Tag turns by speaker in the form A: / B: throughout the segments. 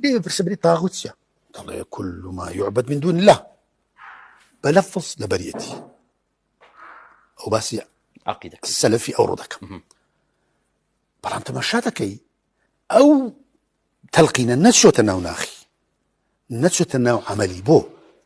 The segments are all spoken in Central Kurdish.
A: لێ بپرسە بری تاغوت چیە دەڵێ کل ما یعبد من دون الله بە لەفظ لەبەریەتی ئەو باسی عقیدە سەلفی
B: ئەوڕۆ دەکەم
A: بەڵام تەماشا دەکەی ئەو تەلقینە نەچۆتە ناو ناخی نەچێتە ناو عملی بۆ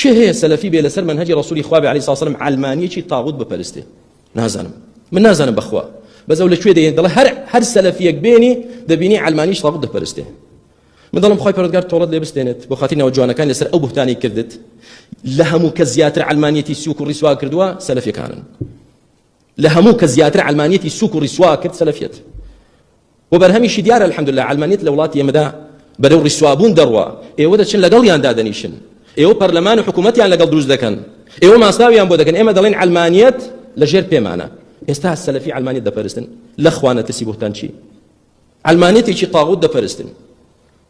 C: کێ هەیە سەلەفی بێ لەسەر مەنهەجی ڕەسولی خوا بێ علی ساسە لەم عەلمانیەکی تاغوت بپەرستێ نازانم من نازانم بەخوا بەس ئەو لە کوێ دەێن دەڵێ هەر هەر سەلەفیەک بێنی دەبینی عەلمانیش تاغوت دەپەرستێ من دەڵم خۆی پرۆگار تۆڵت لێ بستێنێت بۆ خاتی ناو جوانەکان لەسەر ئەو بهتانی کردت لە هەموو کە زیاتر علمانیەتی سوک و ڕیسوا کردووە سەلفەکانن لە هەموو کە زیاتر علمانیەتی سوک و ڕیسوا کرد سەلفەت وە بەرهەمیشی دیارە الحمدللە عەلمانیەت لە وڵاتی ئێمەدا بەرەو ڕیسوابوون دەڕوا ئێوە دەچن لەگەڵیان دادەنیشن ئێوە پەرلەمان و حکومەتیان لەگەڵ دروست دەکەن ئێوە ماستاویان بۆ دەکەن ئێمە دەڵێن عەلمانیەت لە ژێر پێمانە ئێستا سەلەفی عەلمانیەت دەپەرستن لە خوا نەترسی بوهتان چی عەلمانیەتێکی طاغوت دەپەرستن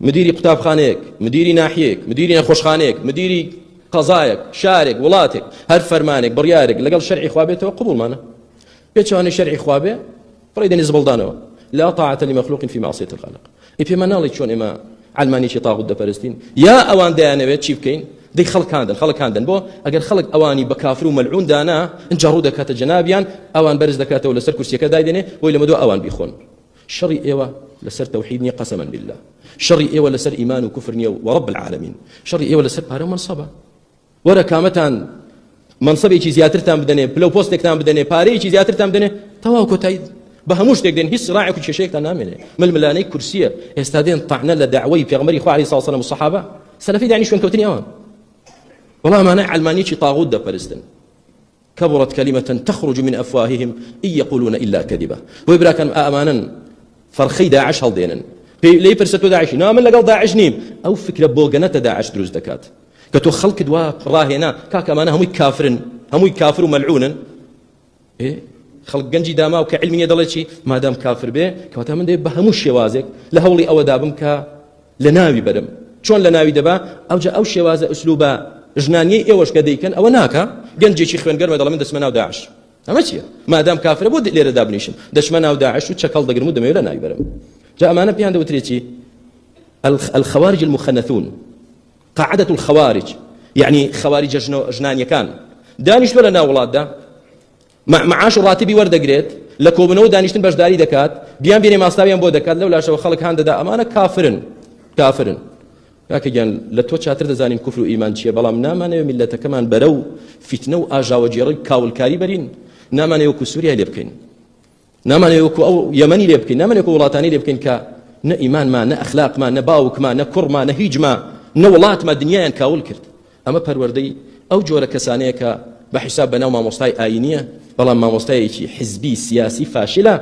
C: مدیری قوتابخانەیەک، مدیری ناحیەیەک، مدیری نەخۆشخانەیەک، مدیری قەزایەک، شارێک، وڵاتێک، هەر فەرمانێک، بڕیارێک لەگەڵ شەرعی خوا بێتەوە قبوڵمانە. پێچەوانەی شەرعی خوا بێ، فڕێی دەنێ زبڵدانەوە. لا طاعة لمخلوق في معصية الخالق. ئەی پێمان ناڵێی چۆن ئێمە عەلمانیەتی طاغوت دەپەرستین؟ یا ئەوان دەیانەوێت چی بکەین؟ دەی خەڵک هاندەن، خەڵک هاندەن بۆ؟ ئەگەر خەڵک ئەوانی بە کافر و مەلعون دانا، ئینجا ڕوو دەکاتە جەنابیان، ئەوان بەرز دەکاتەوە لەسەر کورسیەکە دایدەنێ، بۆی لەمەدوا ئەوان بیخۆن. شەڕی ئێوە لەسەر تەوحید نیە قەسەمەن باللە شەڕی ئێوە لەسەر ئیمان و کوفر نیە وەڕەب العالمین شەڕی ئێوە لەسەر پارە و مەنسەبە وەرە کامەتان منصبێکی زیاترتان بدەنێ پلە و پۆستێکتان بدەنێ پارەیەکی زیاترتان بدەنێ تەواو کۆتایی بە هەموو شتێک دێن هیچ سراعێک و کێشەیەکتان نامێنێ ململانەی کورسیە ئێستا دێن تەعنە لە داوای پێغمەری خواری ساڵسەلم و سەحابە سەلەفی دانی شوێنکەوتنی ئەوان وەڵا ئەمانە علمانیی طاغوت دەپەرستن کبرت کلمە تخرج من افواههم ان یقولون الا کذبا بۆیە براکانم ئا ئەمانەن فەرخەی داعش هەڵدێنن پێی لێی پرسە تۆ داعشی نا من لەگەڵ داعش نیم ئەو فکرە بۆگەنەتە داعش دروست دەکات کە تۆ خەڵکت وا ڕاهێنا کاکە ئەمانە هەمووی کافرن هەمووی کافر و مەلعونن خەڵک گەنجی داماو کە علمی نیە دەڵێ چی مادام کافر بێ کەواتە من دەێ بە هەموو شێوازێک لە هەوڵی ئەوەدا بم کە لەناوی بەرم چۆن لەناوی دەبا ئەوجا ئەو شێوازە ئسلوبە ژنانیەی ئێوەش کە دەیکەن ئەوە ناکە گەنجێکی خوێنگەرمە دەڵێ من دەچمە ناو داعش ئەمە چییە مادام کافرە بۆ لێرە دابنیشم دەچمە ناو داعش و چەکەڵ دەگرم و دەمەوێت لە ناوی بەرم جا ئەمانە پێیان دەوترێتی الخوارج المخنثون قاعدة الخوارج يعني خوارج جنان يكان دانش ولا ناولاد ده معاش و ڕاتبی وەردەگرێت لە کۆبنەوە دانیشتن بەشداری دەکات بیان بێنێ ماستاویان بۆ دەکات لەو لاشەوە خەڵک هان دەدا ئەمانە کافرن کافرن کاکەگیان لە تۆ چاتر دەزانین کوفر و ئیمان چییە بەڵام نامانەوە میلەتەکەمان بەرە و فیتنە و ئاژاوەگێڕی کاولکاری بەرین نامانەوە کو سووریا لێ بکەین نامانەوێت وەکو ئەو یەمەنی لێ بکەین نامانەوێت وەکو وڵاتانی لێ بکەین کە نە ئیمانمان نە ئەخلاقمان نە باوکمان نە کوڕمان نە هیچمان نە وڵاتمان دنیایان کاول کرد ئەمە پەروەردەی ئەو جۆرە کەسانەیە کە بە حیساب بەناو مامۆستای ئاینیە بەڵام مامۆستایەکی حزبی سیاسی فاشلە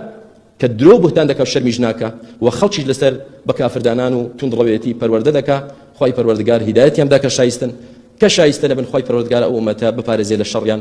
C: کە درۆ بهتان دەکە و شەرمیش ناکە و خەڵکیش لەسەر بە کافردانان و توندڕەوێتی پەروەردە دەکا خی پەروەردگار هیدایەتیان دا کە شایستن کە شایستە لەبن خی پەروەردگار ئەو ومەتە بپارێزێ لە شەڕیان